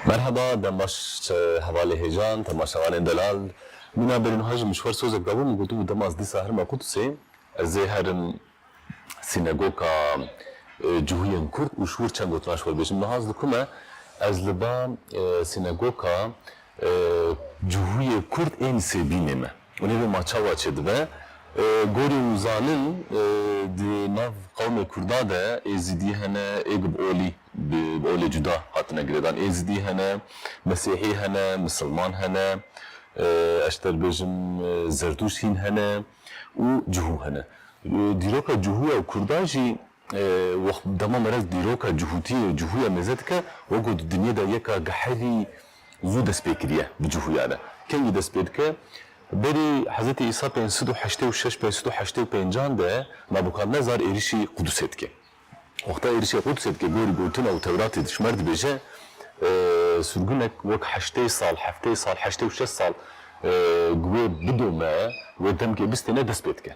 Merheba dem baş hevalê hêjan temaşevanên delal mîna bêrî niha ji min ji xwe sozek dabû min gotibû dema ez dîsa herima Qudusê ez ê herim sînegoka cihûyên kurd û ji wir çend gotina ji xwe bêjim niha ez li ku me ez li ba sînegoka cihûyê kurd ên sêbînê me. Û nîvê ma çawa çêdibe? Gorî û zanin di nav qewmê Kurda de Êzidî hene, Êgb Olî, bi Olê cuda hatine girêdan, Êzidî hene, Mesîhî hene, Misilman hene, ez dê bêjim Zerdûşt hîn hene û Cuhû hene. Dîroka Cuhû ya Kurda jî Wext dema merez dîroka cihûtiyê û cihûya mêze dike, wek ku di dinyê de yeka gehelî zû dest pê kiriye bi cihûya re. Kengî dest pê dike? Berî Hezretî Îsa pênc sed û heştê û şeş, pênc sed û heştê û pênc an de Nabûkadnezar êrişî Qudûsê dike. Wexta êrişê Qudûsê dike gorî gotina û Tewratê dijmer dibêje surgunek wek heştê sal, heftê sal, heştê û şeş sal gi wê bidome, wê demkê bistêne dest pê dike.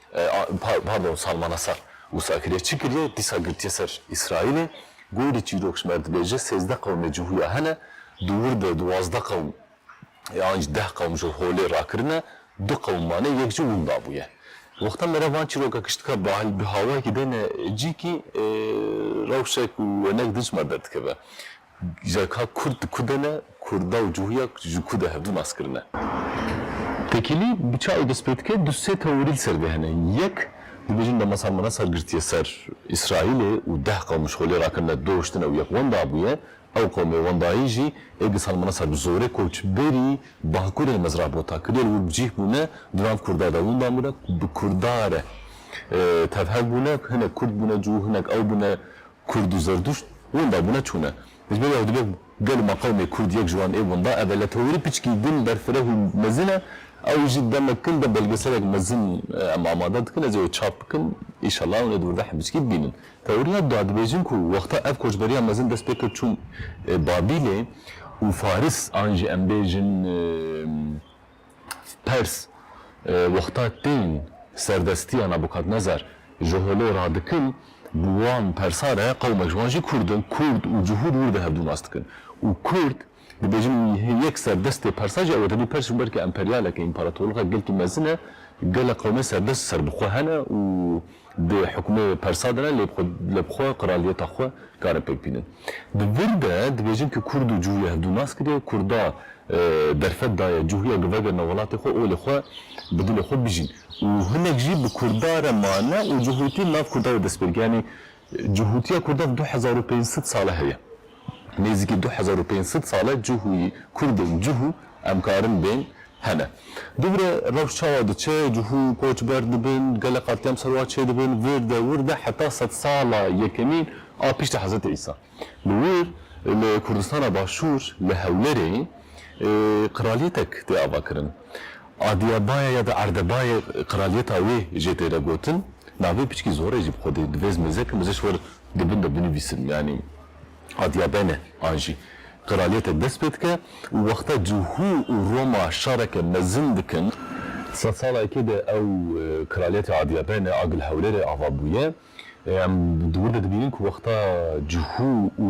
Pardon Salmanaser wisa kiriye çi kiriye dîsa girtiye ser Îsraîlê gorî çîrok ji me dibêje sêzdeh qewmê ji huya hene di wir de duwazdeh qewm yan jî deh qewm ji holê rakirine du qewm mane yek jî winda bûye wexta me re van çîroka kiştika bahil bi hawayekî dene cî kî rewşek û wenek di ji me derdikeve Ji ka kurd di ku de ne, kurda û cuhûya ji ku de hevdu nas kirine. Tekîlî bi çayê dest pê dike, du sê teorî li ser vê hene. Yek, dibêjin Demasa Merasa girtiye ser Îsraîlê û deh qewm ji xolê rakirine, doştine û yek wenda bûye. Ew qewmê wendayî jî ê disan Merasa bi zorê koç berî bakurê mezra bota kiriye li wir bi cîh bûne, di nav kurda de winda bûne ku bi kurda re tevher bûne, hinek kurd bûne, cû hinek ew bûne Kurd û Zerduşt winda bûne çûne. Ji ber wê ew dibe gel û meqewmê Kurd yek ji wan ê winda ev e. Lê tewirî piçkî din berfireh û mezin e. Ew jî demek kin de belgeselek mezin em amade dikin. Ez ê wê çap bikim îşela hûn ê di wirdehê piçkî bibînin. Tewiriya da dibêjin ku wexta ev koçberiya mezin dest pê kir çûn Babîlê û Faris. An jî em bêjin Pers, Wexta tên serdestiya Nebukadnezar ji holê ra dikin, bi wan persa re qewmek ji wan jî kurd in, kurd û cihûd wir de hevdu nas dikin û kurd dibêjin wî hê yek serdestê persa jî ew e. Tevî pers ji ber ku emperyaleke, împaratorlixa gelkî mezin e, gelek qewmê serdest serbixwe hene û. di hukmê persa de ne lê li bi xwe qiraliyeta xwe kare pêk bînin. Di vir de dibêjin ku kurd û cuhya hevdu nas kiriye, kurda derfet daye cuhya ku vegerine welatê xwe û li xwe bi dilê xwe bijîn û hinek jî bi kurda re mane û cuhutî li nav kurda de destpêkiyanî cuhutiya kurda du hezar û pênc sed sal e heye. Nêzîkî du hezar û pênc sed sal e cihûyî kurdên cihû em karin bên hene. Dubire rewş çawa diçe, cihû koçber dibin, gelek qatî em serwa çêdibin, vir de wir de heta sed sala yekemîn a piştî Hezretî Îsa. Li wir li Kurdistana Başûr li Hewlerê qiralîyetek tê avakirin. Adîyebaye ya da Erdebaye qiralîyeta wê jê têre gotin. Navê piçkî Zorê jî bi xwe dê divêz mêzekin, mêzeş wir Di bin de binivîsim yanî adiya bene an jî qiraliyete dest pê dike û wexta cihû û Roma şareke mezin dikin. Sed sala yekê de ew qiraliyetê adiya bene a gil hewlêrê ava bûye. Em di wir de dibînin ku wexta cihû û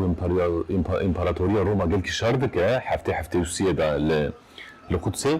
împaratoriya Roma gelkî şar dike heftê heftê û siyê de li Qudsê.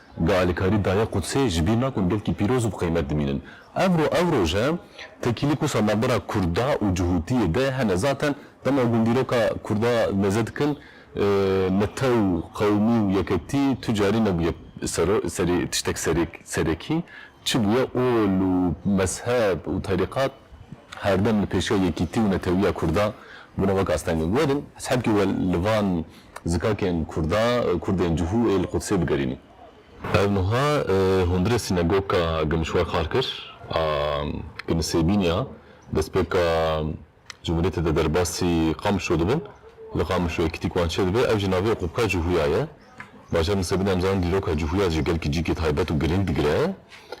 Bi alîkarî Dayê Qudsê ji bîr nakun gelkî pîroz û bi qîmet dimînin. Ev ro ew roj e, tekîlî ku sa navbera Kurda û cihûtiyê de hene. Zaten dema ku hûn dîroka Kurda mêze dikin, mete û qewimî û yeketî tu carî nebûye serê tiştek serekî. Çi bûye ol û mezheb û terîqat herdem li pêşiya yekîtî û netewiya Kurda bûne wek astengî. Werin hesabkê we li van Zikakên Kurda, Kurdên cihû ê li Qudsê bigerînin. Ev nuha hundirê Sînegoka Gimşwar Xarkir a Kinisêbîniya destpêka Cumhuriyetê de derbasî Qamişlo dibin. Li Qamişlo yekîtîk wan çêdibe. Ev jî navê Oqopka Cihûya ye. Bajarên Nisêbînê em zanin dîroka cihûya ji gel kicîkê taybet û girîng digire.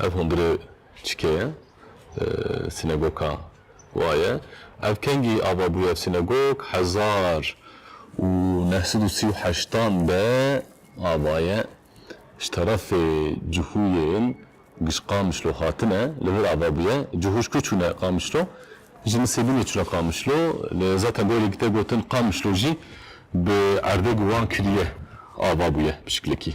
Ev hundirê çike ye? Sînegoka wa ye. Ev kengî ava bûye? Ev sînegok hezar û neh sed û sî û heştan de ava ye. Ji terefê Cihûyên giş Qamişlo hatine. Li vir ava bûye. Cihû ji ku çûne Qamişlo? Ji Nisêbûnê çûne Qamişlo. Lê zaten gorî te gotin Qamişlo jî bi erdê guwan kiriye ava bûye bi şiklekî.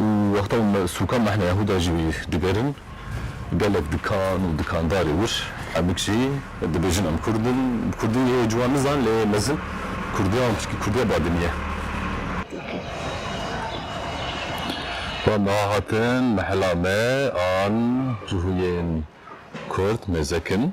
û wexta wan sûkan mehna Yehûda jî digerin, gelek dikan û dikandarê wir hemik jî dibêjin em kurd in, bi kurdî hê ciwan nizanin lê hê mezin kurdiya wan pirtûkê kurdiya badinî ye. Wan niha hatin mehela me an cihûyên kurd mêzekin.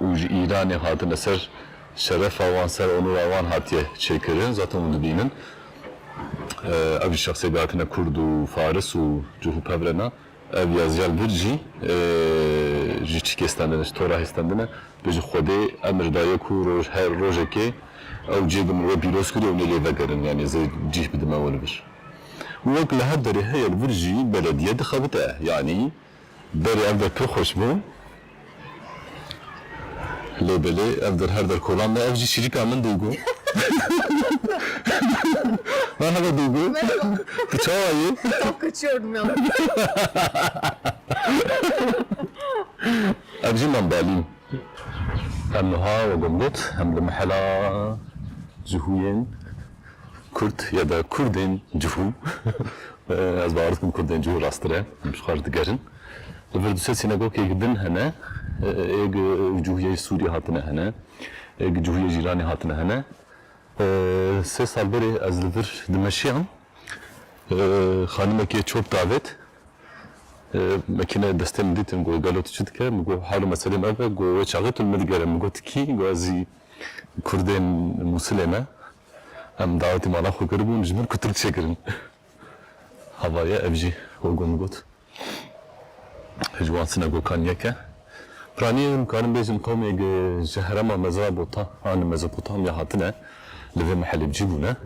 û ji Îranê hatine ser şerefa wan, ser onûra wan hatiye çêkirin, zaten hûn dibînin ev jî şexsê ke hatine kurd û faris û cih û pev re na, ev ya Ziyal Birc jî ji çikê stendine, ji tora hê stendine, bê ji Xwedê emir daye ku roj her rojekê ew cihê ke min wê pîroz kiriye hûn ê lê vegerin, yanî zê cih bidime we li vir. Û wek li her derê heye li vir jî belediye dixebite, yanî Berê ev der pir xweş bû. Lê belê ev der her der kolan me ev jî şîrika min duygu Merhaba duygu tu çawa yî Of kaçıyorum ya. Ev jî mam Balîn em wiha wegom got em li mehela cihûyên Kurd ya da Kurdên cihû, ez bawer dikim Kurdên cihû rasttir e, em ji xwe re digerin, li vir du sed sînagogeyek din hene, yê gi cihûyê Sûriyê hatine hene, yê gi cihûyê Îranê hatine hene. Sê sal berê ez li vir dimeşiyam, xanimekê çop davêt, me kêne destê min dîtin, got gelo tu çi dike, min got hal û meselê me ev e, got wê çaxê tu li min digere, min got tu kî, got ez jî Kurdên Mûsilê me, Em dawetî mala xwe kiribûn ji min ku tirk çêkirin. Hava ye ev jî Hugo min got. Ji wan sînagokan yek e. Piranî em dikarin bêjin qewmêk ji herema Mezrabota an li Mezopotamya hatine, li vê Mihelebcî bûne.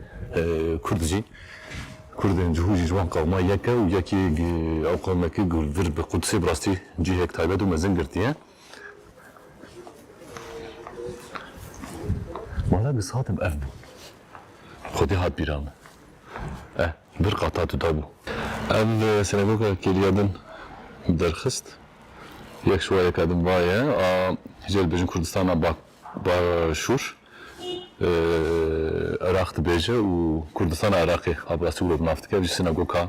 Kurd jî, Kurdên cihû jî ji wan qewma yek e û yekî ew qewmekî ku vir bi Qudsê bi rastî cihêk taybet û mezin girtiye. Wala giz hatim ev bû. Xwedê hat bîra min. Eh, bir qata duda bû. Ev sinagoga kêliya din derxist. Yek şuwayeka din va ye a hicê dibêjin Kurdistana Başûr. Iraq dibêje û Kurdistana Iraqê a bi rastî wilo bi nav dike. Ev jî sinagoga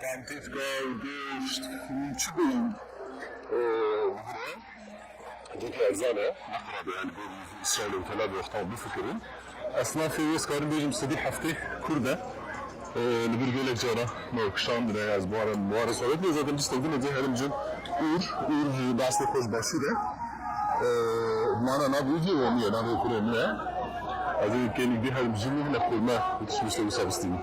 Tentîtka gêşt hûn çi bêyîn hûna gotê erzan e, nexirabe yani bêrî Îsraîl û Tel Avîv xwe bifikirin. Esnafê wê ez karim bêjim sedî heftê kurd e. Li vir gelek caran me kişandine ez baran baran sawet lê zaten pistek din êdî herim cin ûr ûr ji destê xwe ji başûr e. Mana navê wî cî Romî ye navê kurê min e. Ez ê gelî dî herim jin hine xurme û tişt bişte wisa bistînim.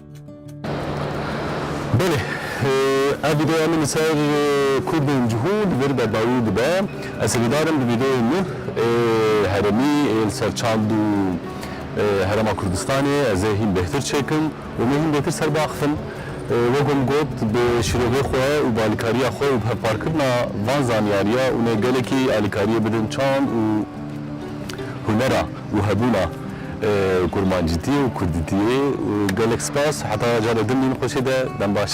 Belê, ev vîdeoya min li ser Kurdên cihû li vir berdawî dibe. Ez hîvîdar im bi vîdeoyên nû ê herêmî ê li ser çand û Herêma Kurdistanê ez ê hîn bêhtir çêkim û me hîn bêhtir ser biaxivin. Wek ku min got, bi şîrovê xwe û bi alîkariya xwe û bi hevparkirina van zanyariya hûn ê gelekî alîkariyê bidin çand û. hunera û hebûna kurmancîtiyê û kurdîtiyê gelek spas heta cara din mîn xweşê de dem baş.